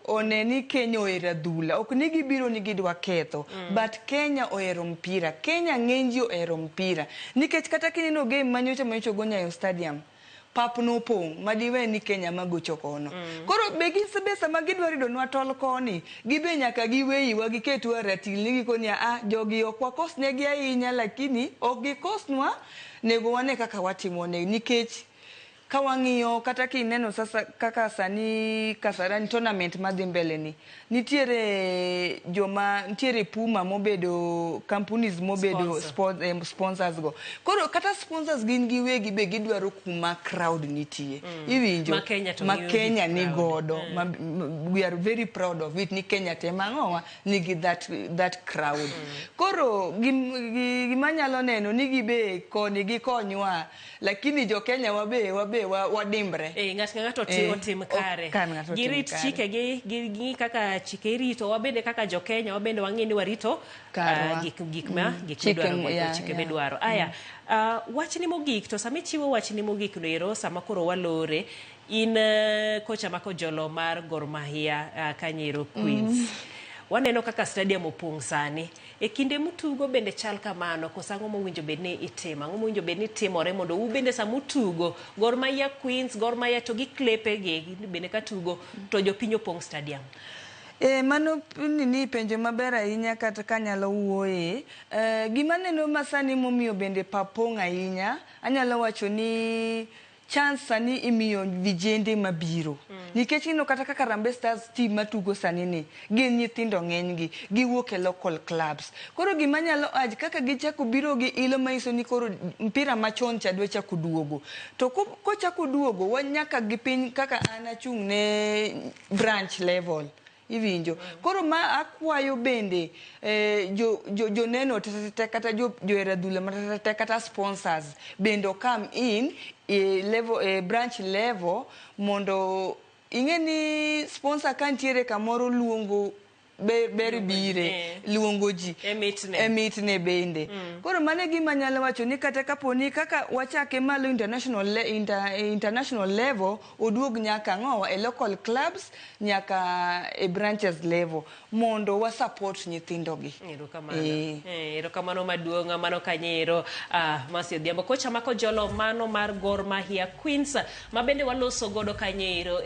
one ni Kenya ohero adhula ok ni gibiro ni gidwa ketho mm. but Kenya ohero mpira Kenya ng'eny ji ohero mpira nikech kata kineno game manyocha manyocha go Nyayo Stadium pap nopong' madiwe ni Kenya magocho kono mm. koro be gisebe sama gidwa ridonwa tol koni gibe nyaka giweyiwa giketwa ratil ni gikoni a ah, jogi ok wakosnegi ahinya lakini ok gikosnwa nego wane kaka watimo ne nikech Ka wang'iyo kata kineno sasa kaka sani Kasarani tournament madhi mbele ni, nitiere joma nitiere Puma mobedo companies mobedo Sponsor. spon- em, sponsors go. Koro kata sponsors gin giwegi be gidwaro kuma crowd nitie. Iwinjo? Ma Kenya to ma miyogi Kenya ni crowd. godo ma, m- we are very proud of it ni Kenya te mang'owa nigi that, that crowd. Koro gim- gi- gima nyalo neno ni gibe koni gikonywa lakini jo Kenya wabe wabe wa- wadimbre Eh, ng'at ka ng'ato otim, Eh, otim ok kare kan ng'ato otim girit kare. chikegi gi- gi kaka chike irito wabende kaka jokenya wabende wang'e ni warito Karwa. ah, gik gik ma gik Chike midwaro m- mondo yeah, chike yeah. midwaro aya ah, wachni mogik to sama ichiwo wachni mogik no ero sama koro walore in eh, kocha mako jolo mar Gor Mahia ah, Kanyero Queens waneno kaka stadium opong' sani E kinde mutugo bende chal kamano koso ang'o mowinjo bed ni itimo? Ang'o mowinjo bed ni timore mondo u bende sama utugo Gor Mahia Queens, Gor Mahia to gi klepe gi bende ka tugo to jopiny opong' stadium? Eh, mano nini penjo maber ahinya kata kanyalo wuoye. Eh, gima neno masani momiyo bende pap pong' ahinya, anyalo wacho ni chance sani imiyo vijende mabiro nikech ineno kata kaka Harambee Stars team matugo sani ni gin nyithindo ng'enygi giwuok e local clubs koro gima nyalo urge kaka gichako biro gi ilo manyiso ni koro mpira machon cha dwa chako duogo to ko- kochako duogo wa- nyaka gi piny kaka an achung' ne branch level Iwinjo. Koro ma akwayo bende eh, jo, jo, joneno tetete kata jo, johera dhula matetete kata sponsors bende come in e level, e branch level mondo ing'e ni sponsor ka nitiere kamoro luongo be- ber bire eh. luongo ji E mitne. e mitne bende koro mano e gima anyalo wacho ni kata kapo ni kaka wachake malo international, le, inter, international level Oduog nyaka ang'owa e local clubs nyaka e branches level mondo wa support nyithindo gi. Erokamano. Eh. Eh, erokamano maduong' mano kanyero ah, Mercy Odhiambo. Kocha mako jolo mano mar Gor Mahia Queens ma bende waloso godo kanyero.